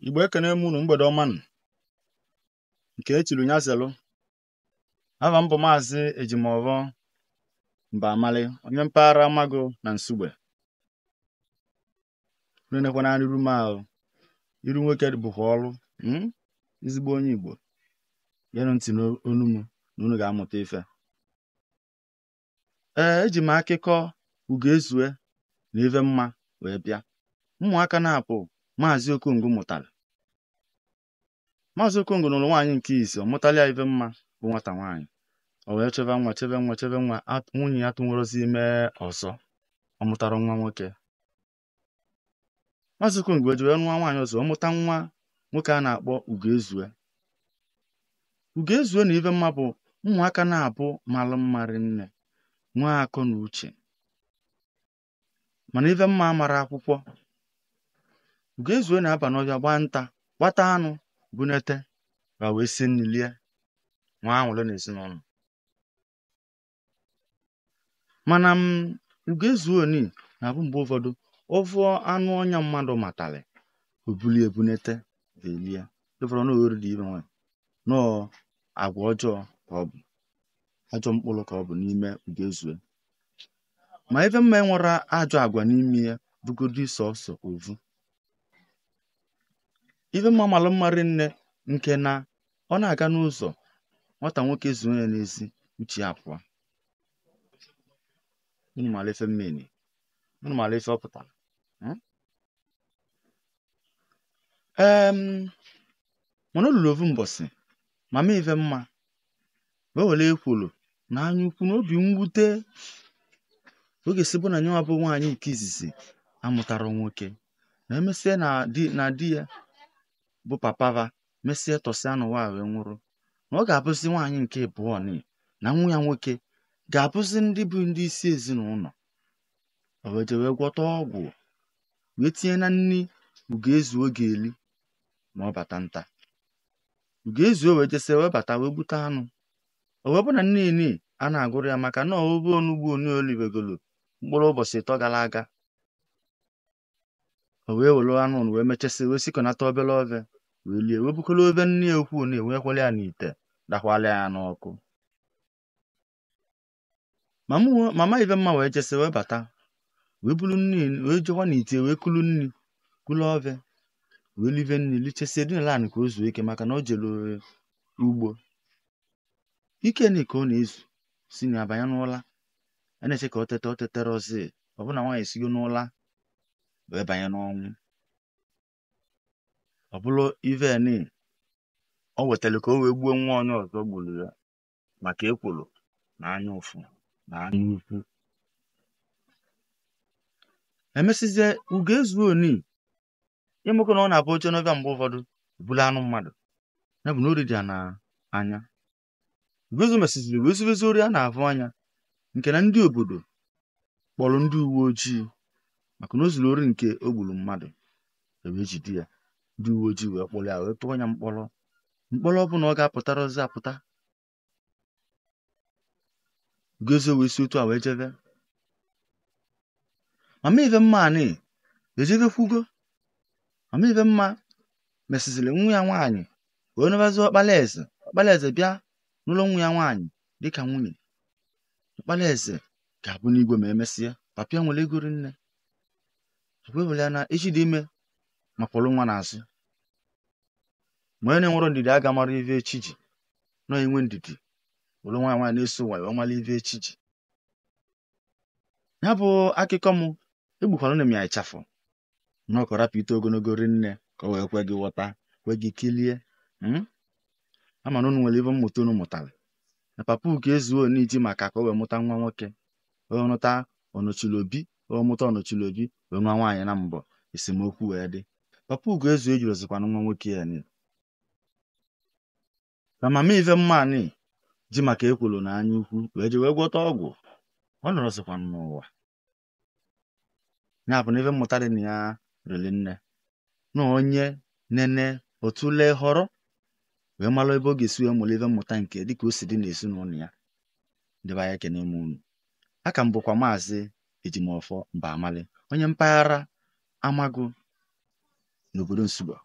igbo ekene m unu mgbede ọma nụ nke e chiri nya zelụ ava m bụ maazị ejimọvọ mbamali onye mpaghara amago na nsugbe nenekwana n'iru m ahụ iru nwoke bụkwa ọrụ hmm? ezigbo onye igbo yeenụ ntị n'ọnụ m na unu ga-amụta ife ee eji m akụkọ ugoezue na ive mma wee bịa ụmụaka naabọ maazị okongo mụtalị maazị okongo nụrụ nwaanyị nke izizi ọ mụtalị ya ive mma bụ nwata nwaanyị o wee cheve nwa cheve nwa cheve nwa nwunye ya atụnwerọzi ime ọzọ ọ mụtarọ nwa nwoke Maazị Okongo eje wee nụọ nwaanyị ọzọ ọ mụta nwa nwoke a na-akpọ Ugoezue Ugoezue na ive mma bụ ụmụaka naabọ malụ mma rinne nwee akọ na uche mana ive mma mara akwụkwọ Ugoezue na-aba n'ọvịa gbaa nta gbata anụ bunete va wee sie nni lie nwee aṅụrị na ezinụnọ mana m ugoezue o ni na-abụ mgbe ụvọdụ ọ vụ anụ ọnya mmadụ matalị o buli e bunete va elie ị vụrọ na ori dị ime nwa nọọ agwa ọjọọ ka ọ bụ ajọ mkpụrụ ka ọ bụ n'ime ugoezue ma ive mma enwerọ ajọ agwa n'ime ya bụgodi sọsọ ovu ive mma malụ mma rinne nke na ọ na-aga n'ụzọ nwata nwoke zuo ya n'ezi uche ya pụọ unu mara ife m mean unu mara ife ọ pụtara hmm? em mana o lulu ovu mbọsị mama ive mma wee were ekworo na anya ukwu na obi mwute ọ ga-esi bụ na nyewa bụ nwaanyị nke izizi amụtarọ nwoke na emesịa na di na di ya bụ papa va mesịa tọsịa n'ụwa wee nwụrụ na ọ ga-abụzi nwaanyị nke ịbụọ ni na nwa ya nwoke ga-abụzi ndị bụ ndị isi ezinụnọ o wee je wee gwọta ọgwụ wee tinye na nri ugoezue ga-eli ma ọ bata nta ugoezue wee jesịa wee bata wee gbute anụ o wee bụ na nni ni a na-agụrọ ya maka na ove onugbu ni o livegolo mkpụrụ ụbọchị ịtọ gara aga o wee were anụ nụ wee mechasị wee sikọnata obele ove wee lie wee bukọrọ ove nne ya ukwu ni wee kwala ya n'ite dakwala ya n'ọkụ mama uwe- mama ive mma wee jesị wee bata wee bulu nni wee jekwa n'ite wee kulu nni kulu ove wee live nni lichesie dinala anị ka o zuo ike maka na o jere ugbo ike ni ka ọ na-ezu si na ya banye n'ụla a na-eche ka ọ teta o teterọzi ọ bụ na nwaanyị esigo n'ụla wee banye n'ọnwụ ọ bụrụ ive ni o wetara ka o wee gbuo nwa onye ọzọ gburu ya maka ekworo na anya ụfụ na anya ukwu emesịzie Ugoezue oni ị makwa na ọ na-abụ o jee n'ọvịa mgbe ụfọdụ buru anụ mmadụ ya bụ na ori dị ya na anya Ugoezue mesịziri wee zubezi ori a na-avụ anya nke na ndị obodo kpọrọ ndị uwe ojii maka na o zuru ori nke o gburu mmadụ e wee jide ya ndị uwe ojii wee kpọrọ ya wee tụọ ya mkpọrọ mkpọrọ ọ bụ na ọ ga-apụtarọzi apụta Ugoezue wee si otu a wee jebe mama Ifemma anị ejebekwugo mama Ifemma mesịziri nwa ya nwaanyị wee nụbazi ọkpara eze ọkpara eze bịa nụrụ nwa ya nwaanyị dịka nwunye ọkpara eze ga-abụnụ igwe ma emesịa papa ya nwere ego rinne wee bụrụ na echi dị ime ma kwọrọ nwa n'azụ ma onye na-enwerọ ndidi aga-amarọ ive echi ji na i nwee ndidi were nwayọ nwayọ na-eso ụwa wee mara ive echi ji ya bụ akụkọ m egbukwaranụ m ya ịchafụ na ọ ka-arapụ ito ogologo rinne ka o wee kwe gị ghọta kwe gị kilie hmm? ama m na unu nwere ive mmụta unu mụtara na papa Ugoezue oni ji maka ka o wee mụta nwa nwoke o wee mụta ọnọchiri obi o wee mụta ọnọchiri obi wee nụa nwaanyị naabọ esemokwu wee dị papa Ugoezue ejirozikwana nwa nwoke ya ni na mama Ifemma anị ji maka ekworo na anya ukwu wee je wee gwọta ọgwụ ọ nọrọzikwana n'ụwa ya bụ na ife mmụta dị na ya riri nne na onye nene otu lee họrọ wee mara ebe ọ ga-esi wee mụrụ ife mmụta nke dịka o si dị n'ezinụlọ ya ndị be anyị ekene m unu aka m bụkwa maazị ejimọfọ Mbamali onye mpaghara amagụ n'obodo nsugbe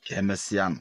ka emesịa nụ